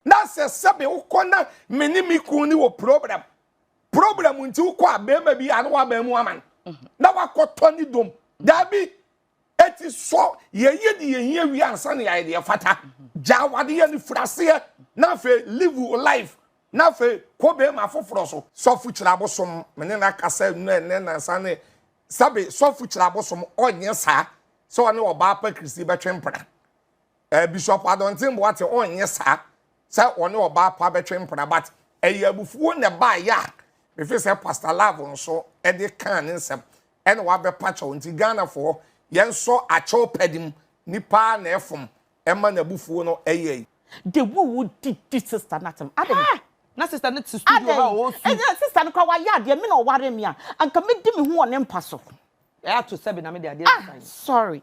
Na sɛ sɛbe wokɔ na me ne me kun ne wɔ problem problem nti wokɔ a bɛrima bi a na waba mu ama no na wakɔtɔ ne dom daabi eti sɔ yɛyɛ de yɛhia wie ansa na yɛayɛ deɛ fata gya wadeɛ no firi aseɛ na afei live life na afei kɔ bɛrima foforɔ so sɔfo kyerɛ abosom me ne no akasa nnura ɛnɛ nansa ne sɛbe sɔfo kyerɛ abosom ɔnyɛ saa sɛ ɔne ɔbaa pa kristi bɛtwe mpena Eh, Bishop Adontin Boate ɔnyɛ saa sɛ ɔne ɔbaa pa bɛtwe mpena but ɛyɛ abufuo na ɛbaeɛ a mefe sɛ Pastor Love nso de kaa ne nsɛm ɛna wabɛpa kyɛw nti Ghanafoɔ yɛnsɔ akyɛw pɛde mu nipa ara na ɛfom ɛma n'abufuo no ɛyɛ yi. The way wo di di sister no atem adɛn. Haa! Na sister no te studio ha o su. Adɛn? Sister no koraa wayɛ adeɛ me na ɔwaree me a anka mɛdi me ho wɔ ne mpa so. Ɛyɛ ato sɛbe na me de adeɛ resan. Ah sorry.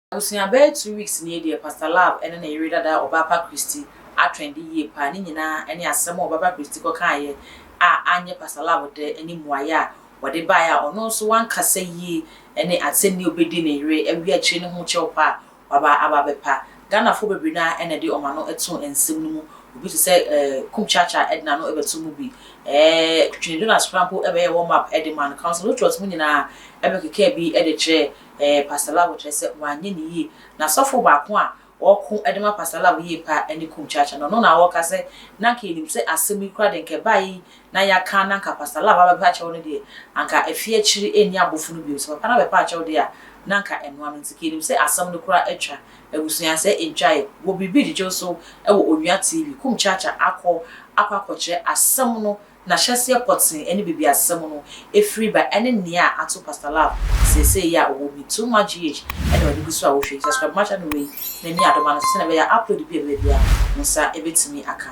Abusua bɛyɛ two weeks nie deɛ Pastor Love ne ne yere dada Ɔbaapa Christy atrendi yie paa, ne nyinaa ne asɛm a Ɔbaapa Christy kɔkaeɛ a anyɛ Pastor Love dɛ ne mmuaeɛ a wɔde baeɛ a ɔno nso wankasa yie ne asɛnnie a ɔbɛdi ne yere awie akyire ne ho kyɛw pa a waba aba abɛpa. Ghanafoɔ bebree no ara na ɛde wɔn ano too nsɛm no mu, obi te sɛ Kumkyakya de n'ano bɛtoo mu bi, Kwini Jonas koraa mpo bɛyɛɛ warm up de maa no, Councillor Luttrot mo nyinaa bɛkekaa bi de kyerɛɛ Ɛɛ, Pastor Love kyerɛ sɛ wanyɛ no yie. Na sɔfo baako a ɔko de ma Pastor Love yie paa ne Kum Chacha no, ɔno na ɔka sɛ, na anka yɛnim sɛ asɛm yi koraa deɛ anka ɛbaeɛ yi na yɛaka na anka Pastor Love abɛpa akyɛw no deɛ anka afie akyiri ɛnni abofo no bio, sɛ papa no abɛpa akyɛw deɛ a na anka ɛnoa no nti ka yɛnim sɛ asɛm no koraa atwa abusua sɛ ɛntwaeɛ. Wɔ biribi gyegyew so wɔ Onua TV, Kum Chacha akɔ akɔ akɔkyerɛ asɛm no N'ahyɛseɛ pɔtee ne bɛbiasɛm no ɛfiri ba ɛne nea ato Pastor Love seesei yi a ɔwɔ mu yi. Too much GH na ɔde gu so a wohwɛ yi. Subscribe ma channel wei na nni adoma no so sɛdeɛ ɛbɛyɛ a upload bi a ɛbɛba biara wo nsa bɛtumi aka.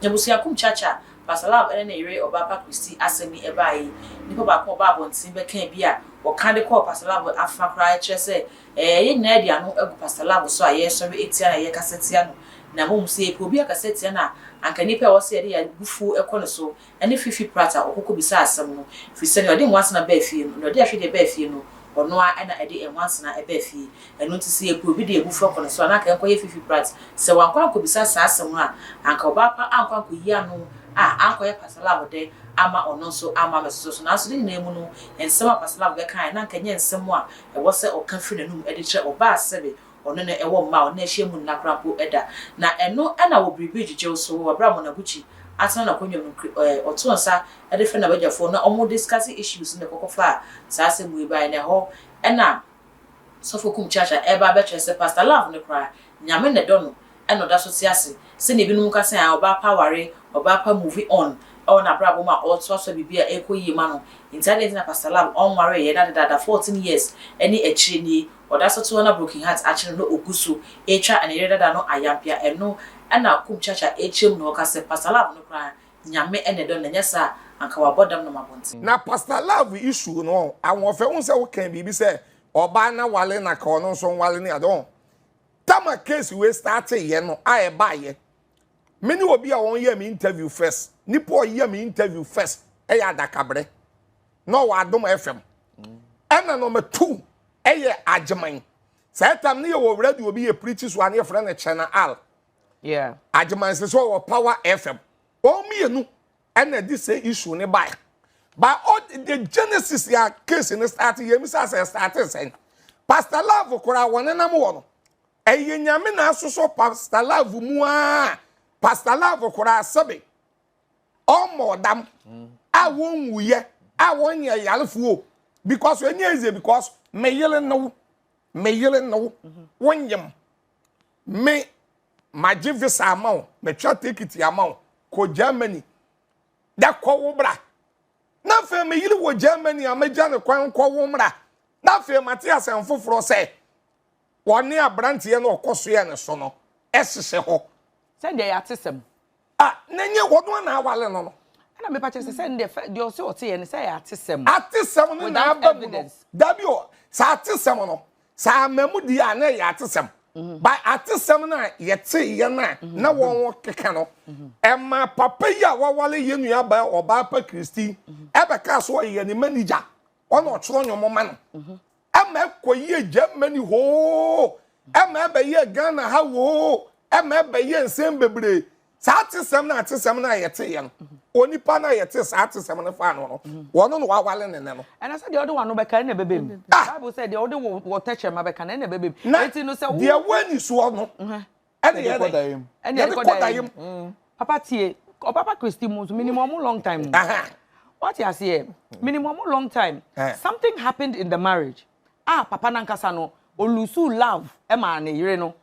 Abusua kum kyakya a Pastor Love ne ne yere Ɔbaapa Christy asɛm yi ɛbaeɛ yi, nnipa baako a ɔbaa abɔnten bɛkaa bi a ɔka de kɔɔ Pastor Love afã koraa kyerɛ sɛ Ɛɛ, yɛn nyinaa de ano agu Pastor Lamb so a yɛresɔre atia no a yɛrekasa tia no, na mmom sɛ yɛpɛ obi akasa atia no a, anka nnipa a ɛwɔ sɛ yɛde yɛn abufuo kɔ ne so ne Fifi Pratt a ɔkɔkɔ bisaa asɛm no, ɛfiri sɛ nea ɔde nwansena baa fie no, nea ɔde ahwedeɛ baa fie no, ɔno ara na ɛde nwansena baa fie. Ɛno nti sɛ yɛpɛ obi de yɛn abufuo akɔ ne so a, na anka yɛnkɔyɛ Fifi Pratt. Sɛ wankɔ ankɔbisa saa asɛm no a, anka ɔbaa pa ankɔ ankɔyi ano a, ankɔyɛ Pastor Lamb dɛ amma ɔno nso amma ammɛsosɔ so. Nanso ne nyinaa mu no, nsɛm a Pastor Lamb bɛkaeɛ no, anka ɛnyɛ nsɛm a ɛwɔ sɛ ɔka firi n'anom de kyerɛ ɔba a sɛbe ɔno ne ɛwɔ mma a ɔne no ahyia mu nna koraa mpo da, na ɛno na wɔ biribi gyegyew so wɔ bere a Monaguchi atena n'akonnwa mu kri ɛ ɔtoo nsa de frɛ n'abagyafoɔ na wɔn discussing issues na ɛkɔkɔ faa saa asɛm wei baeɛ na ɛhɔ na Sɔfo Kum Chacha ɛreba abɛkyerɛ sɛ Pastor Love no koraa Nyame na ɛdɔ no na ɔda so te ase sɛnea ebinom ka sɛ ɔbaa pa aware, ɔbaa pa movie on wɔ n'abrabɔ mu a ɔretoasoa biribi a ɛrekɔ yie ma no. Nti adɛn nti na Pastor Lam ɔnwaree yɛ da dedaada fourteen years ne akyire nie ɔda so te hɔ na broken heart akye no na ɔgu so retwa ne yere dada no ayampia ɛno na Kumchacha rekyerɛ mu na ɔka sɛ Pastor Lam no koraa Nyame na ɛdɔ no ɛnyɛ saa a anka wabɔ dam nam abɔnten. Na Pastor Love issue no ɔn, Ahoɔfɛ wohu sɛ wokaa biribi sɛ ɔbaa na ware na ka ɔno nso nware ne ade ɔn, tama case wei starte yɛ no a ɛbaayɛ me ne obi a wɔn yɛ me interview first nipa ɔyɛ me interview first ɛyɛ adakabrɛ na ɔwɔ adom fm ɛna na ɔmo tu ɛyɛ agyeman saa tam ne yɛ wɔ radio obi yɛ pirikyi so a ne yɛ fɛrɛ no kyɛn na al agyeman sɛ sɛ ɔwɔ power fm wɔn mmienu ɛna ɛde sɛ issue no bae by all the genesis ya case no start yɛ mi sase start sɛn pastor love koraa wɔnenam wɔ no ɛyɛ nyame na asosɔ pastor love mu a pastor love koraa sɛbe ɔmmɔ ɔdam a wɔnwuyɛ a wɔnyɛ yarefoɔ because ɛnyɛ easy because meyere no meyere no wonyem me magye visa ama wo matwa tekiti ama wo kɔ germany dɛ kɔ wo bra na afei meyere wɔ germany a magya ne kwan kɔ wo mmra na afei mate asɛm foforɔ sɛ wɔne aberanteɛ no ɔkɔ soɛ ne so no ɛhyehyɛ hɔ sɛdeɛ yɛate sɛm Ah na nye wɔn no na awale no no. Ɛna mepa kyɛ sɛ sɛ ndɛ fɛ deɛ ɔsɛ ɔte yɛ no sɛ yɛ atesɛm. Atesɛm no na aba mu no. Dabi o saa atesɛm no saa ama mu di a na yɛ atesɛm. Ba atesɛm no a yɛte yɛ no a na wɔn keka no. Ɛma papa yi a wawale yɛ nua ba ɔbaa pa Kristi ɛbɛka so ɔyɛ ne manager ɔna ɔtwerɛ nwom ma no. ɛma ɛkɔyɛɛ Germany hoo, ɛma ɛbɛyɛɛ Ghana ha hoo, ɛma ɛbɛyɛɛ nsɛm bebree. Saa atesɛm no atesɛm no a yɛteeɛ no, onipa no a yɛte saa atesɛm no faa no no, wɔno na wawale ne nɛ no. Ɛna sɛ deɛ wode w'ano bɛka ɛna ɛbɛbɛ mu. Ah! Bible sɛ deɛ wode wo tɛkyerɛma bɛka no ɛna ɛbɛbɛ mu. Na deɛ wɔ anisoɔ no, ɛne yɛ dɛ ɛne yɛ kɔ dayem papa tie ɔpapa kristi mu nso minimu ɔmo long time wate aseɛ minimu ɔmo long time something happened in the marriage ah papa nankasa no olusu love ɛma ne yere no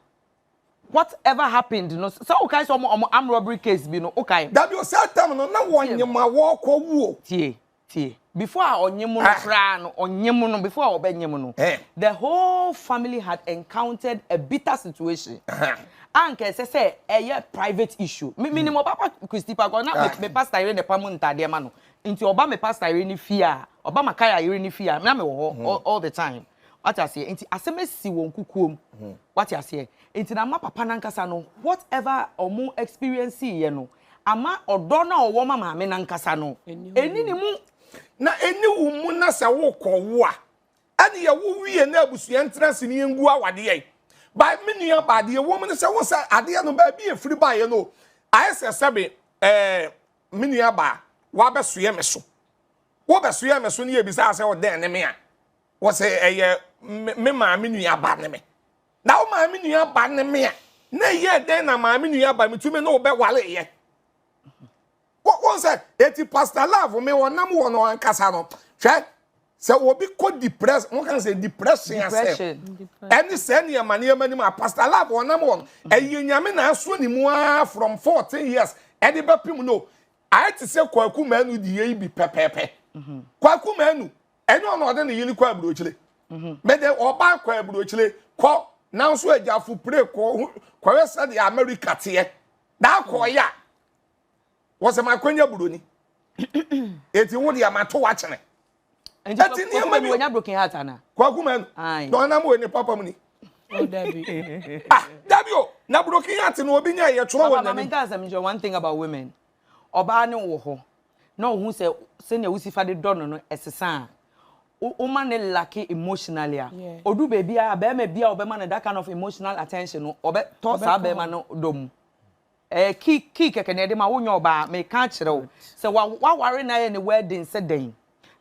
whatever happened no sɛ wokae sɛ ɔmo ɔmo arm robbery case bi no wokae dabi o sɛ tam no na wɔnyema wɔkɔ wuo tie Tie, before a ɔnye mo no koraa no, ɔnye mo no, before a ɔbɛnye mo no, the whole family had encountered a bitter situation. A nka ɛsɛ sɛ ɛyɛ private issue. Me menim ɔba pa Christy pa kɔ, na me pastor yere na ɛpa mu ntaadeɛ ma no. Nti ɔba me pastor yere ne fie a, ɔba Makaya yere ne fie a, na mewɔ hɔ all, all the time. Wate aseɛ? Nti asɛm asi wɔn kukuo mu. Wate aseɛ? Nti na ama papa no ankasa no, whatever ɔmo experience yɛ no, Ama ɔdɔ no a ɔwɔ ma maame no ankasa no ɛnni ne mu. Na ɛnni wo mu na sɛ worekɔwo a, ɛnneɛ wowie na abusua ntena ase ne yɛngu awadeɛ. By me nua baa deɛ ɛwɔ mu ne sɛ wohu sɛ adeɛ no baabi a ɛfiri baeɛ no ayɛ sɛ sɛbe ɛɛ me nua baa wabɛsoɛ me so. Wobɛsoɛ me so ne yɛbisaa sɛ ɔdɛn ne me a wɔsɛ ɛyɛ me maame nua ba ne me. Na wo maame nua ba ne me a na ɛyɛ dɛn na maame nua ba metumi ne wo bɛwareyɛ wɔn sɛ eti pastor love me wɔnam wɔ no ankasa no hwɛ sɛ obi kɔ depress mo kan sɛ depression asɛm ɛne sɛ nneɛma nneɛma nim a pastor love wɔnam wɔ no ɛyɛ nyame na aso ne mu ara from fourteen years ɛde bɛpem no ayɛ te sɛ kwaku manu deɛ yi bi pɛpɛɛpɛ kwaku manu ɛnyɛ ɔno ɔde ne yere kɔ aburokyire mhm. mede ɔbaa kɔ aburokyire kɔ nanso agyafo pire kɔ kɔyɛ sɛdeɛ amerika teɛ daa kɔɔyɛ a wɔsɛ ma akɔnya buroni eti wo deɛ ma to wakyene ɛti nneɛma bi kwaku manu na ɔnam wɔ ne papa mu ni oh, ah dabi o na broken heart na obi nya yɛ twerɛ wɔ n'anim. papa maame nka asɛm nkyɛn one thing about women ɔbaa no wɔ hɔ na ɔhu sɛ sɛnea wosi fa de dɔ no no ɛsesa a woma ne lacke emotionally a odu baabi a bɛrima bi a ɔbɛma no that kind of emotional attention no ɔbɛtɔ saa bɛrima no dɔ mu ɛɛ kii kii kɛkɛ na ɛde ma wonyɛ ɔbaa meka akyerɛ wo sɛ waware na yɛ ne wedding sɛ dɛn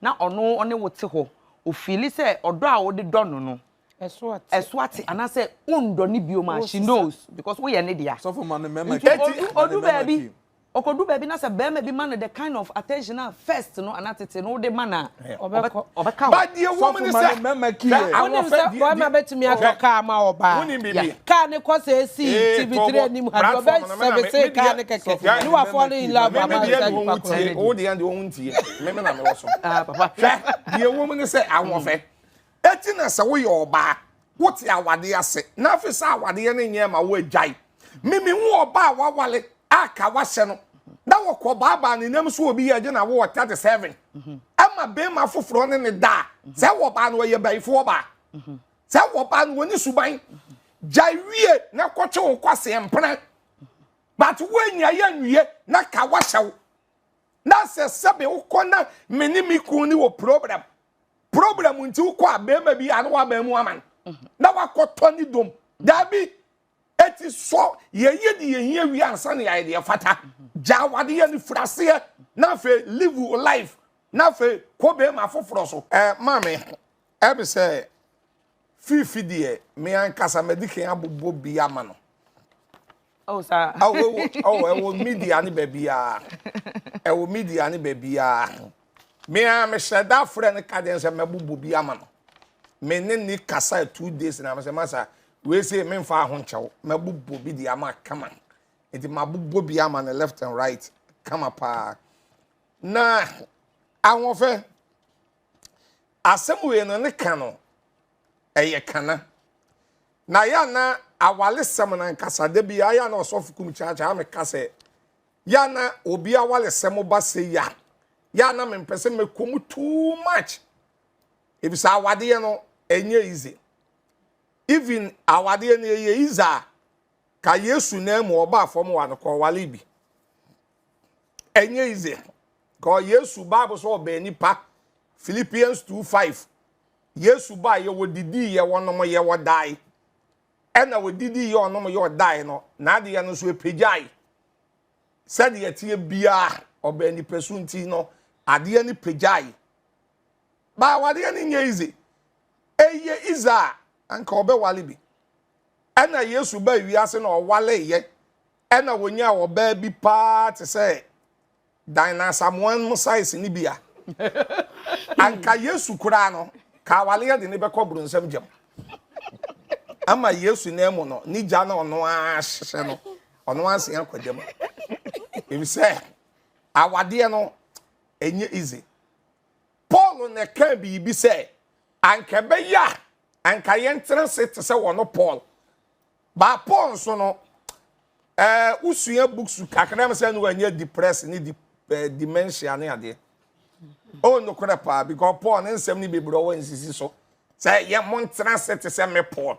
na ɔno ɔne wo te hɔ ofili sɛ ɔdɔ a wode dɔ no no ɛso ate ɛso ate anaasɛ wondɔ ne bio ma she knows because woyɛ ne dea nti odu baabi ɔkɔdu baabi na sɛ bɛrima bi ma no the kind of attention a first no ana tete no wode ma no a ɔbɛka badeɛ wɔm ne sɛ wonim sɛ bɛrima bɛtumi atɔ kaa ma ɔbaa kaa ne kɔ sɛ ɛsi tv3 anim ha ɔbɛsɛbese kaa ne kɛkɛ ne wafoɔ no in love ama sɛ nipa kɔ wodeɛ deɛ ɔho ntie meme na mewɔ so hwɛ deɛ wɔm ne sɛ awɔfɛ Enti na sɛ woyɛ ɔbaa, wote awadeɛ ase, na afei sɛ awadeɛ no nyɛɛ ma woagyae. Mimi hu ɔbaa a wawale a ka wahyɛ no, na wɔkɔ baabaa ne nam so obi yɛ gye na wowɔ 37. Ɛma bɛrima foforɔ ne ne da a, sɛ wɔbaa no ɔyɛ bayifoɔ ɔbaa. Sɛ wɔbaa no wɔne suban. Gya wie na kɔtwe wo kwaseɛ mpena. But woanya yɛ nwie na ka wahyɛ wo. Na sɛ sɛbe wokɔ na me ne me kunu ne wɔ problem. problem nti wokɔ a bɛrima bi ano wabɛn mu ama no mhm. na wakɔtɔ ne dom daabi ɛti sɔ yɛyɛ de yɛhia wie ansa ne yɛayɛ deɛ fata mhm. gya wadeɛ ne firaseɛ na afei live your life na afei kɔ bɛrima foforɔ so ɛɛ maame ɛbi sɛ fifi deɛ me ankasa mɛdi kan abobɔ bi ama no Oh, sir. Oh, oh, oh, oh, oh, media ni baby ah. Eh, oh, media ni baby ah. Me ah, me said that friend kaden se me bubu bi ama no. Me ne ni kasa two days na me se masa. We say me nfa ho nchew. Me bubu bi di ama come on. Enti ma bubu bi ama ne left and right. Come up. Ah. Na ahofe asem we no ne ka no. ɛyɛ kana na yɛ a na awalesɛm no ankasa da bi ayɛ a na ɔsɔfo kum kyaakyaa meka sɛ yɛ a na obi awalesɛm ba sɛ yɛ a yɛ a na mempɛ sɛ mɛkɔ mu too much ebisa awadeɛ no ɛnyɛ easy even awadeɛ no ɛyɛ easy a ka yesu na mu ɔbaa fam wa no kɔ wale bi ɛnyɛ ize kɔ yesu bible sɛ ɔbɛn nipa philippians 2 5 yesu ba yɛ wɔ didi yɛ wɔnom yɛ wɔdae ɛna wɔ didi yɛ ɔnom yɛ ɔdae no na adeɛ no nso ɛpagyae sɛdeɛ teɛ biara ɔbɛn nipa so nti no adeɛ no pagyae baa wadeɛ no nyɛ ize ɛyɛ ize a anka ɔbɛwale bi ɛna yesu ba wiase na ɔwaleyɛ Ɛnna wɔnyaa ɔbaa bi paa te sɛ Dinah Asamoah no size no bi a anka Yesu koraa no ka awale de ne bɛkɔ boronsam gyam. Ama Yesu nan mu no, ne gya na ɔno ara hyehyɛ no, ɔno ara sen akɔ gyam. Efisɛ awadeɛ no ɛnyɛ easy. Paul na ɛka biribi sɛ anka ɛbɛyɛ a anka yɛntena se te sɛ wɔn Paul. But Paul nso no, eh, wosua books kakra mu sɛ ne wanyɛ depressed ne di, eh, dementia ne adeɛ. Oh, nokorɛ paa, because Paul ne nsɛm ne bebree ɔwɔ nsisi so. Sɛ yɛ mo ntena ase te sɛ me Paul.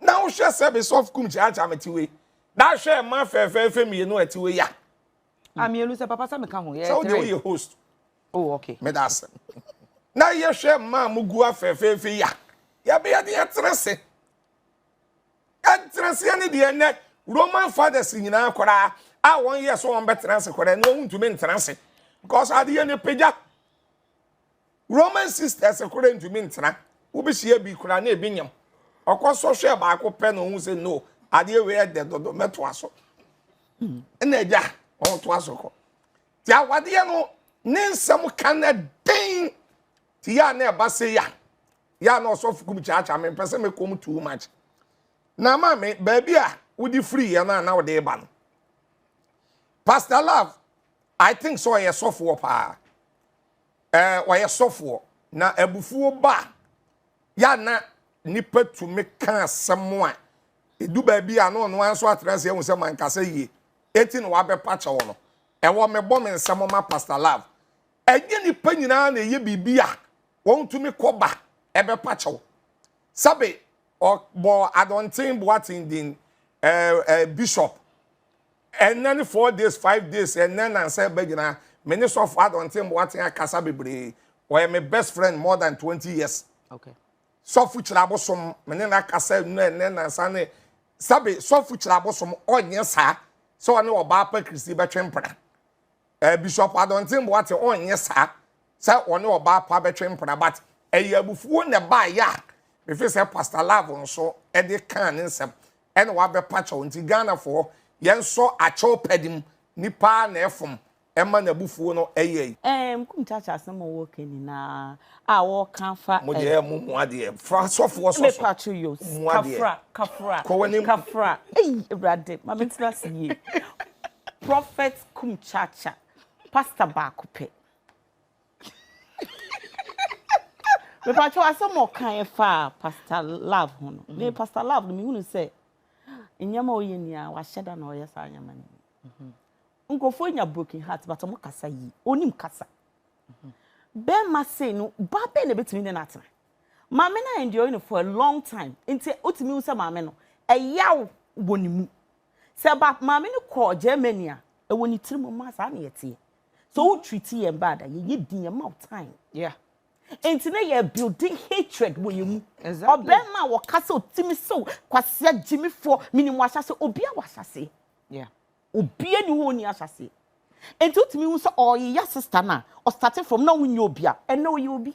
Na wohwɛ sɛ be soft kum kyaakyaa me te wei. Na hwɛ ɛma fɛfɛɛfɛ mmienu ɛte wei ya. A mmienu sɛ papa sɛ meka ho yɛ three. Sɛ wode woyɛ host. Oh, okay. Me da ase. Na yɛhwɛ mmaa mo gu afɛfɛɛfɛ ya. Yɛbɛyɛ de yɛtena ase. ntenaseɛ ne deɛ nnɛ roman fathers nyinaa koraa a wɔyɛ sɛ wɔbɛtena ase koraa na wɔntumi ntena ase because adeɛ no pagya roman sisters koraa ntumi ntena wobɛhyia bi koraa na ebi nyam ɔkɔ sɔ hwɛ baako pɛ na ɔhu sɛ no adeɛ wei ɛdɛ dodo mɛtoa so ɛna agya ɔtoa so kɔ nti awadeɛ no ne nsɛm ka na den ti yɛ a na ɛba se ya yɛ a na ɔsɔfo kum kyaakyaa me mpɛ sɛ mekɔ mu too much na ama me baabi a wode firi yɛ no a na wode ba no pastor love i think sɛ ɔyɛ sɔfoɔ paa ɛɛ ɔyɛ sɔfoɔ na abufuo ba a yɛ a na nipa tumi ka asɛm a edu baabi a na ɔno ara nso atena ase ehu sɛ mankasa yie eti na wabɛpa kyɛw no ɛwɔ mebɔ me nsɛm ma pastor love. Ɛnyɛ nnipa nyinaa na ɛyɛ biribi a wɔtumi kɔ ba ɛbɛpa kyɛw. Sɛbe ɔbɔ Adɔnten Boaten din ɛɛ ɛɛ bishop. Ɛnnɛ ne four days five days ɛnnɛ nansa ɛba nyinaa me ne sɔfo Adɔnten Boaten akasa bebree. Ɔyɛ me best friend more than twenty years. Okay. Sɔfo kyerɛ abosom me ne n'akasa nnɛ ɛnnɛ nansa ne sɛbe sɔfo kyerɛ abosom ɔnyɛ saa sɛ ɔne ɔbaa pa Kristi bɛtwe mpena. Eh Bishop Adɔnten Boate ɔnyɛ saa sɛ ɔne ɔbaa pa bɛtwe mpena but ɛyɛ abufuo na ɛbaeɛ a mefe sɛ Pastor Love nso de kaa ne nsɛm ɛna wabɛpa kyɛw nti Ghanafoɔ yɛnsɔ akyɛw pɛde mu nipa ara na ɛfom ɛma n'abufuo no ɛyɛ yi. Ɛɛ mkum kyakya asɛm a ɔwɔ ka nyinaa a ɔɔka afa ɛ. Mo deɛ ɛ mo mua deɛ fra sɔfoɔ sɔ so. Me pacho yo mua deɛ. Kafra kafra kafra ei awurade ma me ntena ase yie. Prophet kum kyaakya pastor baako pɛ. Mepatwo asɛm a ɔkaeɛ faa Pastor Love ho no, me Pastor Love no mehunu sɛ nneɛma a ɔyɛ nyinaa wahyɛ da na ɔyɛ saa nneɛma no bi. Nkurɔfoɔ nya broken heart but wɔn kasa yie, ɔnim kasa. Bɛrima sei no, baa bɛn na ɛbɛtumi ne no atena? Maame no ayɛ enduring no for a long time, nti wotumi hu sɛ maame no, ɛyaw wɔ ne mu. Sɛ ba maame no kɔ Germany a, ɛwɔ ne tiri mu ma saa na yɛteɛ. So wo treat yɛn bad a, yɛyɛ din, yɛma wo time. Yeah. Nti na yɛ building hatred wɔ yɛn mu. Exactly. Ɔbɛrima a wɔka sɛ ɔtumi sew kwasea gyimifoɔ, menim wahyɛse, obia wɔ ahyɛse. Yeah. Obia ni hɔ ɔni ahyɛse. Nti wotumi hu sɛ ɔyeyɛ sister no a, ɔstate from na wonyɛ obia, ɛnɛ ɔyɛ obi.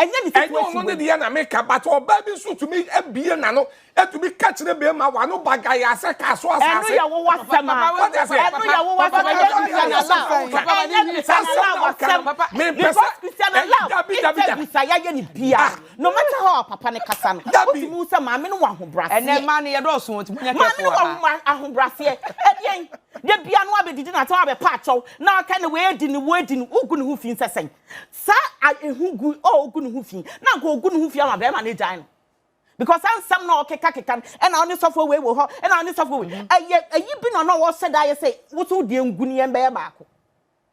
Ɛnyɛ ne situation wei. Ɛnyɛ ɔno ne deɛ na meka but ɔbaa bi nso tumi abie n'ano atumi ka kyerɛ bɛrima w'ano bagae asɛ kaa so asase. Ɛno yɛ wo wasɛm a. Ɛno yɛ wo wasɛm a. Ɛnyɛ Christiana love. Ɛnyɛ Christiana love asɛm. Because Christiana love interviews a yɛayɛ no biara no matter how a papa no kasa no wotumi hu sɛ maame no wɔ ahobraseɛ. Ɛnɛ mmaa no yɛdɔɔso wɔn ti mo nya kɛfoɔ wɔ ha. Maame no wɔ ahobraseɛ. Ɛdeɛn? Da biara no abɛdidi na ata abɛpa akyɛw na aka ne wei adi ne wei adi no wogu ne ho fi nsɛ sɛn? Saa a ehu gu a ogu ne ho fi na anka ogu ne ho fi ama bɛrima no agyae no. Because saa nsɛm na ɔkekakeka no, ɛna ɔne sɔfo wei wɔ hɔ, ɛna ɔne sɔfo wei. Ɛyɛ ayi bi na ɔno a ɔhyɛ da yɛ sɛ wosow deɛ ngu no yɛn bɛyɛ baako.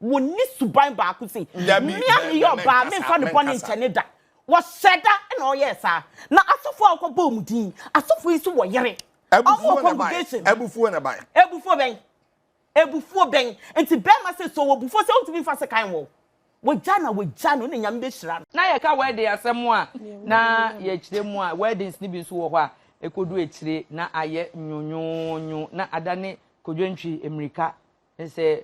Wɔnni suban baako sei. Dabi, Me a me- meyɛ me- ɔbaa menkasa, memfa ne bɔne menkasa. nkyɛ ne da. Wɔhyɛ da na ɔyɛɛ saa. Na asɔfo a wɔkɔbɔɔ wɔn din, asɔfo yi nso wɔ yere. Wɔn wɔ Abufuo na ɛbae. congregation. Abufuo na ɛbae. Abufuo bɛn? Abufuo bɛn nti bɛɛma sɛ sɛ ɔwɔ bufuo sɛ ɔntumi nfa sekan mmɔ wo wagya no a wagya no na nyame bɛhyira no. Na yɛka wedding asɛm a na yɛkyerɛ mu a weddings no bi nso wɔ hɔ a ɛkɔdu akyire na ayɛ nwonwonwo na adane kodwantwi mmirika sɛ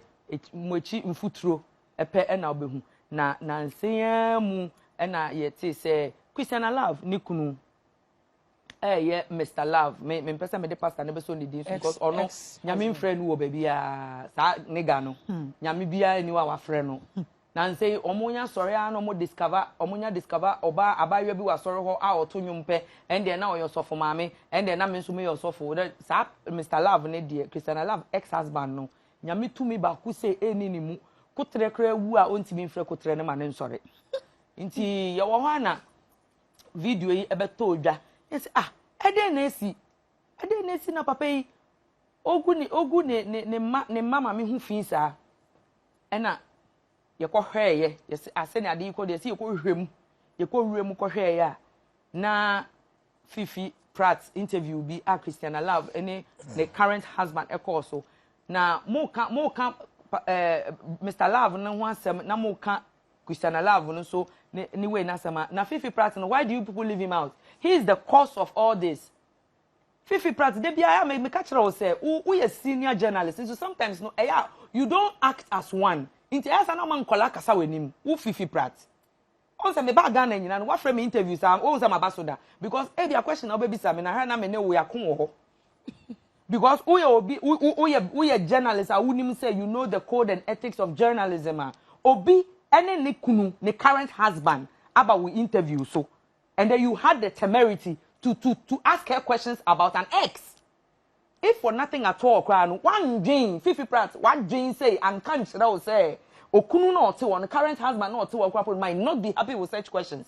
mo akyi mfuturo pɛ na wobɛhu na nansa yi ara mu na yɛtee sɛ Christiana Love ne kunu ɛyɛ Mister Love me me mpɛ sɛ mede pastor no bɛsɔ ne din so because ɔno nyame mfrɛ no wɔ baabi a saa nega no hmm. nyame biara ni wa wafrɛ no hmm. na nsɛ wɔn nya sɔre a na wɔn discover wɔn nya discover ɔbaa abaayewa bi wɔ asɔre hɔ a ɔto nnwom pɛ ɛndeɛ na ɔyɛ ɔsɔfo maame ɛndeɛ na me nso meyɛ ɔsɔfo dɛ saa Mister Love ne deɛ Christiana Love ex husband no nyame tumi baako sɛ ɛni ne mu kotere koraa wu a ɔntumi mfrɛ kotere ne ma ne nsɔre nti yɛwɔ hɔ ana. video yi bɛtɔɔ dwa na sɛ ah ɛdɛn na asi ɛdɛn na asi na papa yi ogu ne ogu ne ne ne mma ne mma maame ho fi saa ɛna yɛkɔhwɛɛyɛ yɛsɛ asɛ ne ade yi kɔ deɛ sɛ yɛkɔhwɛ mu yɛkɔwura mu kɔhwɛɛyɛ a na fifi pratt interview bi a christiana love ne ne current husband ɛkɔɔ so na mo ka mo ka ɛɛ eh, mr love no ho asɛm na mo ka Christiana love no so ne ne wei n'asɛm a na Fifi Pratt no why do you people leave him out he is the cause of all this Fifi Pratt da biara me meka kyerɛ wo sɛ wo woyɛ senior journalist nso sometimes no ɛyɛ a you don't act as one nti ɛyɛ sɛ na ɔma nkɔla kasa w'anim wo Fifi Pratt ɔn sɛ mebaa Ghana nyina no wafrɛ me interview saa ɔn sɛ maba so da because ebi a question na wobɛbisa me na ha na me ne wo yɛako wɔ hɔ because woyɛ obi woyɛ woyɛ journalist a wonim sɛ you know the code and ethics of journalism a obi ɛne ne kunu ne current husband aba wo interview so and then you had the temerity to to to ask her questions about an ex if for nothing at all koraa no wandwen fifi prat wadwen sɛ anka nkyerɛ wo sɛ okunu na ɔte wɔn current husband na ɔte wɔn koraa might not be happy with such questions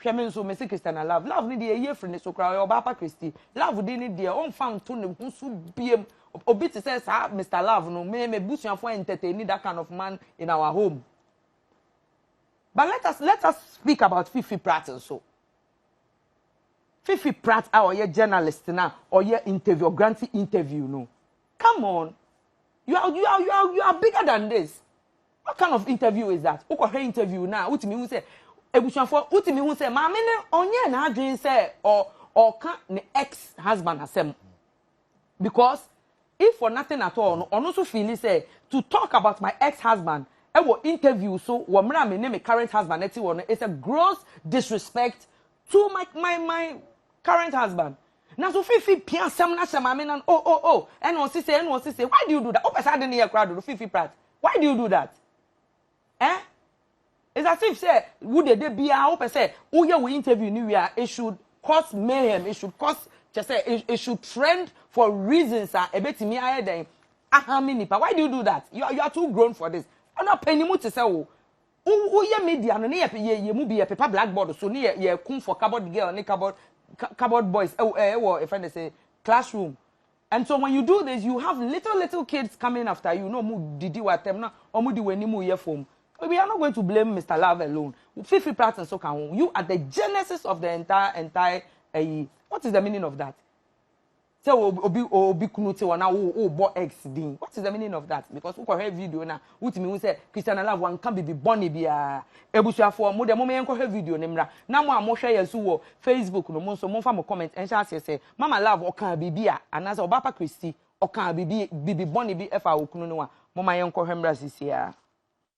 Hwɛ me nso mese Christiana love love ne deɛ ɛyɛ firi ne so koraa ɔyɛ ɔbaa pa Christy love din ne deɛ ɔmfa nto ne ho so biem obi te sɛ saa Mr love no me me busuafoɔ entertain that kind of man in our home but let us let us speak about Fifi Pratt nso Fifi Pratt a ɔyɛ journalist na ɔyɛ interview grant interview no come on you are you are you are you are bigger than this What kind of interview is that? Wokɔ hwɛ interview na wotumi hu sɛ ebusuafo wotumi hu sɛ maame no ɔnyɛ n'adwene sɛ ɔ ɔka ne ex husband asɛm because if for nothing at all no ɔno nso feel sɛ to talk about my ex husband ɛwɔ interview so wɔ mmerɛ a me ne me current husband ɛte wɔ no is a gross disrespect to my my my current husband na so fifi pia asɛm na hyɛ maame nan oh oh oh ɛna ɔsi sɛ ɛna ɔsi sɛ why do you do that wopɛ saa de ne yɛ kora dodo fifi prat why do you do that eh it's as if sɛ wo dede biara wopɛ sɛ woyɛ wo interview ni wia it should cause mayhem it should cause kyɛ sɛ it, it should trend for reasons a ɛbɛtumi ayɛ dɛn ahame nipa why do you do that you are, you are too grown for this ɔno apɛnimu te sɛ wo Wo wo yɛ media no ne yɛ yɛ yɛ mu bi yɛ pepa black board so ne yɛ yɛ kum for cupboard girl ne cupboard cu- cupboard boys ɛwɔ ɛɛ ɛwɔ yɛfrɛ ne sɛ classroom and so when you do this you have little little kids coming after you na ɔmo didi wɔ atɛm na ɔmo di wɔn anim yɛ fam we are not going to blame mr love alone fifi pratt nso ka ho you are the genesis of the entire entire ɛyi what is the meaning of that. sɛ obi obi kunu te hɔ na wo wo bɔ ex din what is the meaning of that because wokɔ hwɛ video na wotumi hu sɛ christian love wanka bibi bɔne biara ebusuafoɔ mo deɛ mo yɛn kɔhwɛ video ne mmra na mo a mo hwɛ yɛn so wɔ facebook no mo nso mo nfa mo comment ɛnhyɛ aseɛ sɛ mama love ɔkaa bibi a anaasɛ ɔbaapa christy ɔkaa bibi bibi bɔne bi ɛfa okunu no a mo ma yɛn kɔhwɛ mmra sisiaa.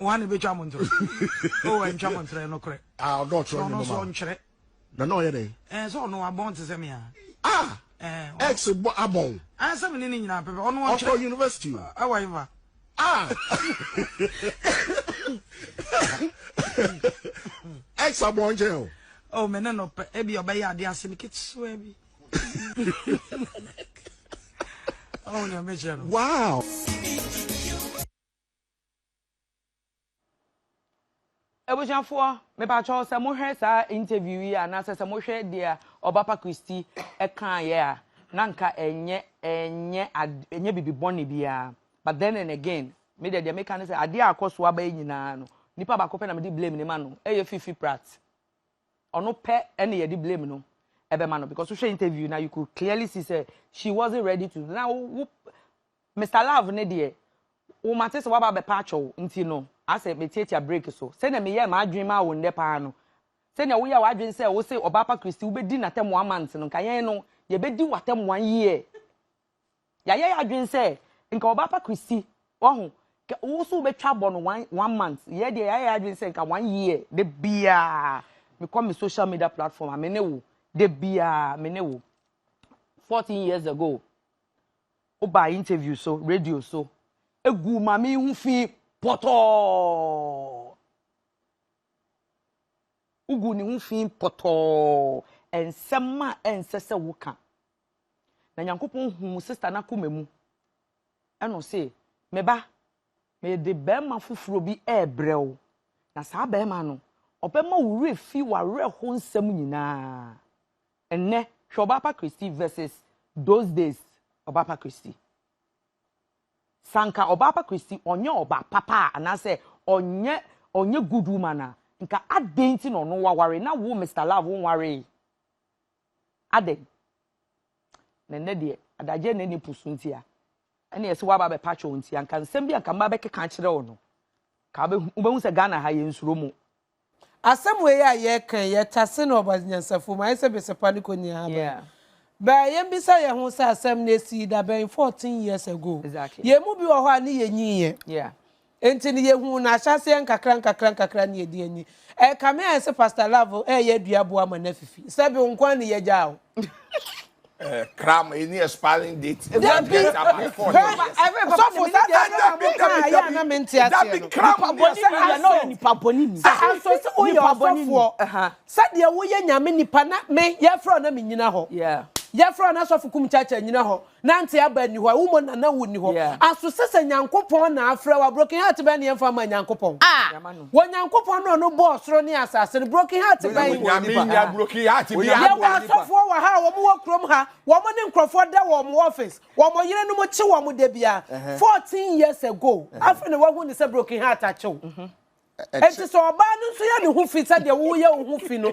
wɔn na ebetwa mo ntorɔ o ɛntwa mo ntorɔ ɛnokorɛ a ɔdɔ ɔtorɔ ne moma ɔno nkyerɛ na na ɔyɛ dɛ ɛɛ sɛ ɔno abɔn te sɛ mi a ah ɛɛ ex bɔ abɔn ɛɛ sɛ mi ne ne nyinaa pɛpɛ ɔno ɔnkyerɛ ɔkɔ university o ɛwɔ yi ba ah ex abɔn nkyɛn o ɔ mi ne no pɛ ebi ɔbɛyɛ ade ase ne ketewa bi ɔwɔ ni ɔbɛkyerɛ no wow. Abusuafoɔ, mepakyɛw sɛ mohwɛ saa interview yi a anaasɛ sɛ mohwɛ deɛ Ɔbapa Christy kaeɛ a, na nka ɛnyɛ ɛnyɛ ad ɛnyɛ biribi bɔne biara. But then and again, me deɛ deɛ meka ne sɛ adeɛ a akɔ so aba yi nyinaa no, nipa baako pɛ na mede blame no ma no, ɛyɛ Fifi Pratt. Ɔno pɛ ɛna yɛde blame no ɛbɛma no because wohwɛ interview no a, you could clearly see sɛ she wasn't ready to na wo Mister Love ne deɛ, wo mate sɛ woaba abɛpa atwɔ wo nti no, asɛ metiatia break so. Sɛnea meyɛɛ m'adwene maa wo nnɛ paa no, sɛnea woyɛɛ w'adwene sɛ wose Ɔbaapa Christy wobɛdi n'atɛmmoa months no, nka yɛn no, yɛbɛdi w'atɛmmoa year. Yɛayɛ yɛn adwene sɛ nka Ɔbaapa Christy, wahu, kɛ wo nso wobɛtwa abɔ no one, one month. Yɛn deɛ, yɛayɛ yɛn adwene sɛ nka one year. Da biara, mekɔ me social media platform a, me ne wo. Da biara, me ne wo. Fourteen years ago, Wobaa interview so, radio so, guu maame yi ho fi pɔtɔɔ. Woguu ne ho fi pɔtɔɔ. Nsɛm a ɛnsɛ sɛ woka. Na Nyankopɔn huu sista no akoma mu. Ɛna ɔse, Me ba, mede barima foforɔ bi rebrɛ wo, na saa barima no, ɔbɛma wo werɛ afi w'awerɛho nsɛm nyinaa. Ɛnnɛ, hwɛ Ɔbaapa Christie versus those days Ɔbaapa Christie. Sɛ anka Ɔbaapa Christie ɔnyɛ ɔbaa papa a anaasɛ ɔnyɛ ɔnyɛ good woman a, nka adɛn nti na ɔno waware na wo Mister Love wonwaree? Adɛn? Na ɛnnɛ deɛ adagyeɛ na ɛne po so nti a ɛne ɛsɛ woaba abɛpa kyɛw nti anka nsɛm bi anka mma bɛkeka akyerɛ wo no ka wobɛhu sɛ Ghana ha yɛnsuro mo Asɛm wei a yɛreka yi, yɛtase no Ɔbɔadze nyansafo mu. Ayɛ sɛ besepa no konyia haban. Bɛa yembisa hɛnho sɛ asɛm no esii da bɛn, fourteen years ago? Hɛn mu bi wɔ hɔ a ne yenyiiɛ. Ntsi no yehun no ahyɛaseɛ nkakra nkakra nkakra na yɛdze enyi. Ɛrekame ayɛ sɛ Pastor Love reyɛ aduaboa ama no afifi. Sɛ bi wo nkoaa na yɛgyaa wo. Eh, cram any expiring date. If that be about four years. So for that, that that be that be that be that be cram. Nipa boni ni ya no nipa boni ni. Anso se o ya sofo. Sa de wo ye nyame nipa na me ye fro na me nyina ho. Yeah. Ye fro na sofo kum chacha nyina ho. Na nte aba ni ho. Wo mo na na wo ni ho. Anso se se nyankopon na afre wa broken heart be na ye fa ma nyankopon. Ah. Wɔ Nyankopɔn no a ɔno bɔɔ soro ne asase no broken heart bɛn? Nyame nnya broken heart bia. Yɛwɔ asɔfoɔ wɔ ha a wɔn wɔ kurom ha, wɔn ne nkorɔfoɔ da wɔ wɔn office, wɔn yerenom kye wɔn da biara, fourteen years ago, afei na wahu no sɛ broken heart akye wo. Enti sɛ ɔbaa no nso yɛ ne ho fi sɛdeɛ wo yɛ wo ho fi no,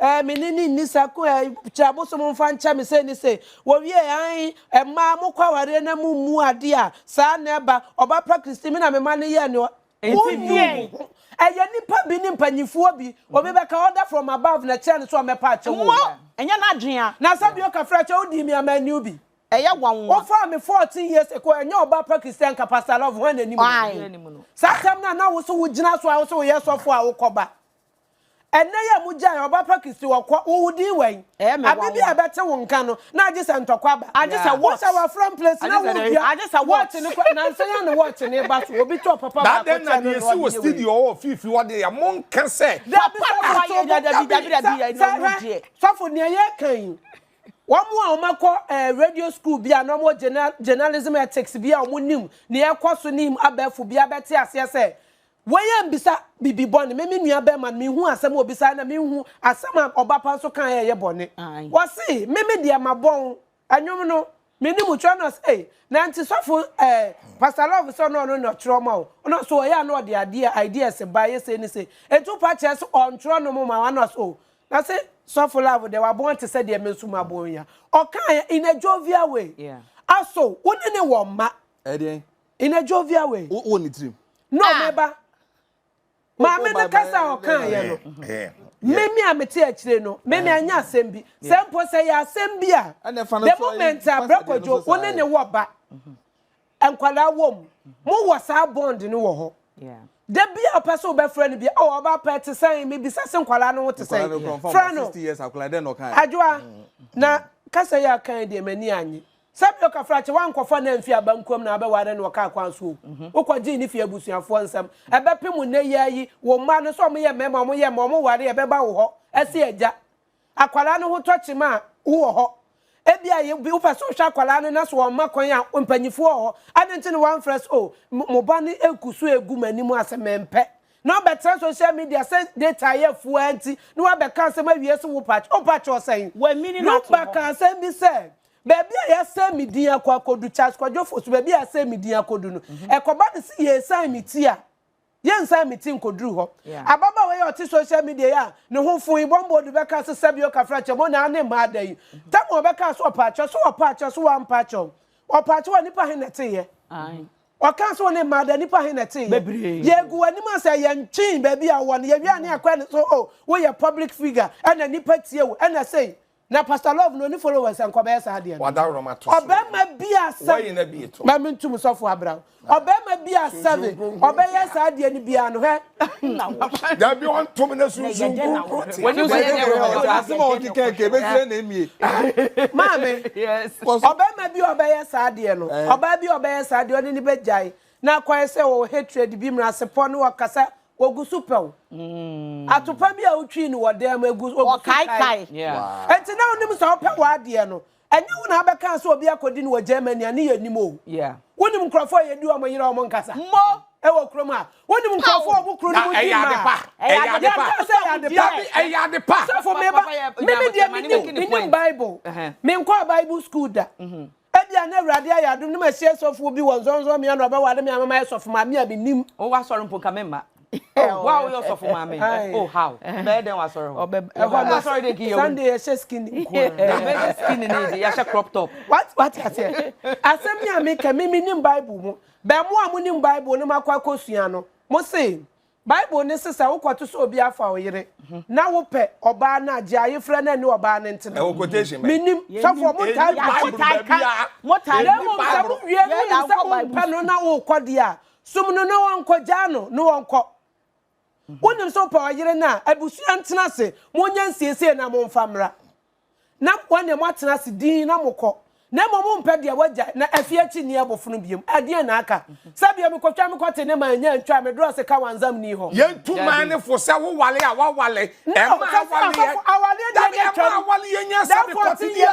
Ɛɛ, me ne no nni sa ko ɛ, kyerɛ abosom mfa nkyɛ me sei ne sei. Wɔwiee, ae, mmaa, mokɔ awareɛ na mommu adeɛ a, saa na ɛba. Ɔba pa Christine, me na me ma no yɛɛ nea Nti Wonnu wo deɛn? ho. Ɛyɛ nnipa bi ne mpanimfoɔ bi. Obi bɛka order from above na ɛkyerɛ no sɛ ɔmmɛpa akyɛw wɔ Mmɔ, wura. ɛnyɛ n'adwene a. Na sɛ bio kafra kyɛ, wodii me a manni wo bi. Ɛyɛ nwanwa. Wofaa me fourteen years ago, ɛnyɛ ɔba pa Christine anka Pastor Love, hwan na anim no? Obiara Ae. anim no. Saa asɛm no a na wo so wogyina so a wo se woyɛ sɔfo a wokɔba. Ɛnnɛ yi a mugyae ɔba pa Kristo wɔ kwa, wo din wɛn. Abe bi a ɛbɛte wo nka no, na agye sɛ ntɔkwa aba. Wosɛ wafra mplesi na wodua wɔɔkye no koraa. Nansa yi ara na wɔɔkye no reba so, obi tɔɔ papa baako kyɛɛ no na ɔde yɛ wei. Sɔfo, nea yɛreka yi, wɔn a wɔakɔ radio school bi a na wɔwɔ journalism ethics bi a wɔnim nea ɛrekɔ so ne abɛɛfo bi abɛte aseɛ sɛ, Wei yɛ mbisa bibi bɔne me me nua bɛɛma no menhuu asɛm a ɔbisaeɛ na menhu asɛm a ɔba pa nso kaeɛ a ɛyɛ bɔne ɔse me me deɛ mabɔn ɛnwom no meni mu twerɛ na ɔse ei na nti sɔfo eh pastor love sɛ ɔno ɔno na ɔtwerɛ ma wo ɔno ɔse ɔyɛ a na ɔde adeɛ ideas ba yɛ sei ne sei enti wo pa kyerɛ sɛ ɔntwerɛ no mo ma wo ana ɔse oh na se sɔfo love deɛ wabɔn te sɛ deɛ me nso mabɔn yi a ɔkaeɛ in a jovial way yeah aso wo ne ne wɔ mma. Ɛdeɛn? In a jovial way. Wo wɔ ne tirim. No me ba. Maame no kasa a ɔkaeɛ no. Me me a mete akyire no, me me anyɛ asɛm bi. Sɛ mpo sɛ ɛyɛ asɛm bi a, the moment a Brɛ Kwadwo wo ne ne wɔ ba, nkwadaa wɔ mu, mowɔ saa bond no wɔ hɔ. Da bi a wopɛ sɛ wobɛfrɛ no bi, oh ɔba pa te sɛn, mebisa sɛ nkwadaa no ho te sɛn, frɛ no. Adwoa, na kasa yi a ɔkaeɛ deɛ m'ani annye. Sɛdeɛ ɔkafra kye woankɔfa no amfi abankuam na abɛware no ɔkaa kwan so o, wokɔgyee ne fie abusuafoɔ nsam. Ɛbɛpem nnɛ yi ara yi, wo mma no sɛ wɔyɛ mmarima a wɔyɛ mma wɔware a ɛbɛba wo hɔ sɛ agya. Akwadaa no ho tɔ kyem a, wowɔ hɔ. Ebia wopɛ sɛ wohwɛ akwadaa no na sɛ wɔmma kwan a, mpanimfoɔ wɔ hɔ. Adɛn nti na woamfrɛ sɛ, o, mo ba no regu so regu m'anim ase, mempɛ. Na wobɛtra social media sɛ data ayɛ afuo ara nti na woabɛka asɛm awie sɛ wopɛ akyɛ. Wopɛ akyɛ ɔsɛn? Wamini no ato hɔ. Luba kaa asɛm bi sɛ, Baabi a yɛasan me din akɔ akɔdu, Charles Kwadwo Ofosu, baabi a yɛasan me din akɔdu no, ɛkɔba no sɛ yɛresan me ti a, yɛnsan me ti nkɔduru hɔ. Ababaawa yi a ɔte social media yi a ne ho fo yi, Bɔmbɔ Odu bɛkaa sɛ Sɛbio Kafrakyɛm, o naa ne mmaa da yi. Tɛm a ɔbɛkaa sɛ ɔpa akyɛw, so wapa akyɛw, so wampa akyɛw? Ɔpa akyɛw a, nnipa he na ɛteeɛ? Ɔkaa sɛ o ne mmaa da a, nnipa he na ɛteeɛ? Yɛagu w'anim a sɛ yɛntwee baabi a wowɔ no, yɛwie a ne yɛakɔ ɛne so, o woyɛ public figure, ɛna nnipa tie wo, ɛna sei. Na pastor love no oni followers nka ɔbɛyɛ saa deɛ no. Ɔbɛma bi a seven. Ma me ntum sɔfo abrao. Ɔbɛma bi a seven. Ɔbɛyɛ saa deɛ no biara no hɛ. Na wo. Dabi ɔntom ne sunsun kunkun te. Wani bɛyɛ deɛ wɔ hɔ. Asem a ɔkeka nka ebefira na emie. Maame. Yes. Ɔbɛma bi a ɔbɛyɛ saa deɛ no. Ɔbaa bi a ɔbɛyɛ saa deɛ ɔne no bɛgyae. Na akɔyɛ sɛ ɔwɔ hatred bi, mmerasepɔ ne ɔkasa Wɔgu so pɛw. Atopa bi a wotwii no wɔ dan mu, egu wɔgu so kaekae. Enti na wonim sɛ wopɛ w'adeɛ no, ɛnyɛ wo na abɛka sɛ obi akɔdi no wɔ Germany a ne yɛ nim o. Wonim nkurɔfoɔ a yɛdi wɔn yere a wɔn nkasa wɔ kurom ha? Wonim nkurɔfoɔ a wɔn kuro no mu di mma a yɛka sɛ ɛyɛ ade pa? Ɛyɛ ade pa. Sɔfo, meba, me me deɛ menim, menim Bible. Menkɔɔ Bible school da. Ebia na Awurade ayɛ adom na masie sɔfoɔ bi wɔ nsɔnsɔnbea na ɔbɛware me ama mayɛ sɔfo maame a mennim. Oh w'asɔre mpo nka memma. Oh wo a woyɛ ɔsɔfo maame oh how bɛyɛ dɛn w'asɔre hɔ. Ɛhɔ no asɔre deɛ nka yɛwu. Sunday yɛhyɛ skinny nko a. Na bɛhyɛ skinny ne deɛ yɛahyɛ crop top. What what aseɛ asɛm ni a meka me mennim bible mu bɛ mo a monim bible no makɔ akɔsua no mose Bible no se sɛ wokɔto sɛ obi afa wo yere na wopɛ ɔbaa no a, gye ayefrɛ no ne ɔbaa no ntena. Ɛwɔ quotation bɛn? Mennim. Sɔfoɔ mo ntaa nka Bible baabiara. Na mmom sɛ mo wie no wonim sɛ wompɛ no na wokɔ deɛ a, som no na ɔnkɔ, gyaa no na ɔnkɔ. Wonim sɛ wopɛ ɔyere no a, abusua ntena ase, monyɛ nsiesie na momfa mmra. na mo ne moatena ase dinn na mokɔ, na mmom mompɛ deɛ wɔagyae, na afei akyi nni abofono bio. Ɛdeɛn na aka? Sɛ bia mekɔtwa mekɔte ne man nya ntwa me drɔse ka wanzam nni hɔ. Yɛntu man no fo sɛ woware a waware. Ɛmma awaleɛ dabi, ɛmma awaleɛ nyɛ sɛ mekɔtedie,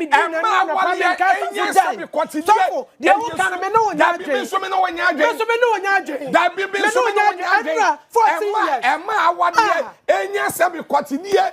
ɛmma awaleɛ ɛnyɛ sɛ mekɔtedie, ɛnso dabi me nso me ne wo nyɛ adwene, dabi me nso me ne wo nyɛ adwene, ɛmma ɛmma awaleɛ ɛnyɛ sɛ mekɔtedie.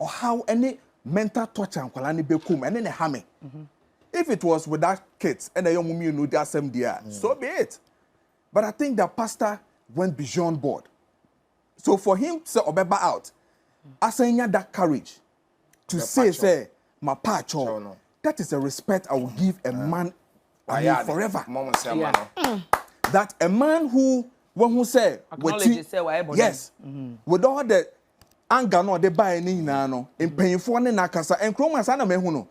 ɔhaw ne mental torture nkwadaa no bɛkɔ mu ɛne na ɛha me mhm. if it was with that kit ɛna ɛyɛ wɔn mmienu di asɛm deɛ a mm. so be it but i think that pastor went beyond board so for him sɛ ɔbɛba out asan nya that courage to say sɛ ma pa akyɛw that is a respect i will give a man i mean forever mm. that a man who wɔn ho sɛ wɔti yes mm-hmm. with all the anger no a ɔde baeɛ no nyinaa no, mpanyinfoɔ ne no akasa. Nkuro mu a saa na mahu no.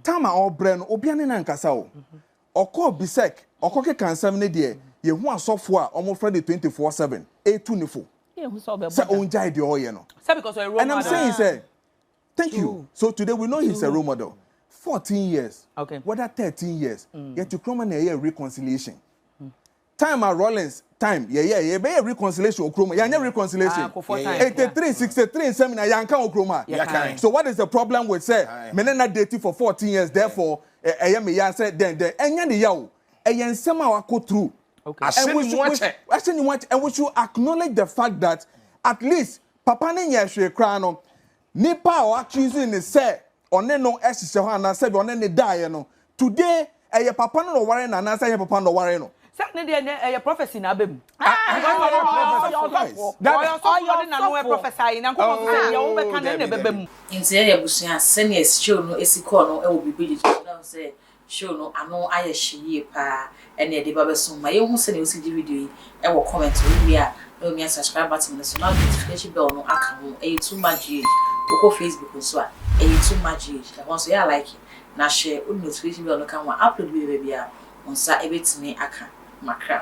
Tam a ɔrebrɛ no, obia ne no ankasa o. Ɔkɔɔ Bisek, ɔkɔkeka nsɛm no deɛ, yɛhu asɔfoɔ a wɔfrɛ no 24 seven retu no fo sɛ ɔngyae deɛ ɔreyɛ no. And I'm saying sɛ, thank you. So today we know he's a role model. Fourteen years, whether thirteen years, yɛte kurom a na yɛyɛ reconciliation. time a rollins time yɛyɛ yɛbɛyɛ reconciliation wɔ kurom yɛanyɛ reconciliation eighty three sixty three nsɛm nyinaa yɛanka wɔ kurom ha so what is the problem with sɛ me ne na date for fourteen years therefore ɛyɛ me ya sɛ dɛn dɛn ɛnyɛ ne ya o ɛyɛ nsɛm a wakɔ through and we should ahyɛ ne mu akyɛ and we should acknowledge the fact that at least papa ne nyɛ hwee koraa no Nipa a wa choose no sɛ ɔne no hyehyɛ hɔ anaa sɛbi ɔne no daeɛ no today ɛyɛ papa no na ɔwaree no anaa sɛ ɛnyɛ papa no na ɔwaree no. Sɛ ne deɛ ɛnɛ ɛyɛ prophecy na aba mu. Nti ɛyɛ abusua sɛnea show no si kɔɔ no wɔ biribi de to so na wohu sɛ Show no ano ayɛ hye yie paa ɛna ɛde ba bɛso mo ma yɛnhu sɛnea wosi gye video yi wɔ comment wo wie a na wamia subscribe button no so na wode notification bell no aka ho ɛyɛ too much GH wokɔ Facebook nso a ɛyɛ too much GH ɛhɔ nso yɛ a like na hyɛ wode notification bell no ka ho a upload bi bɛba biara wo nsa ɛbɛtumi aka makra.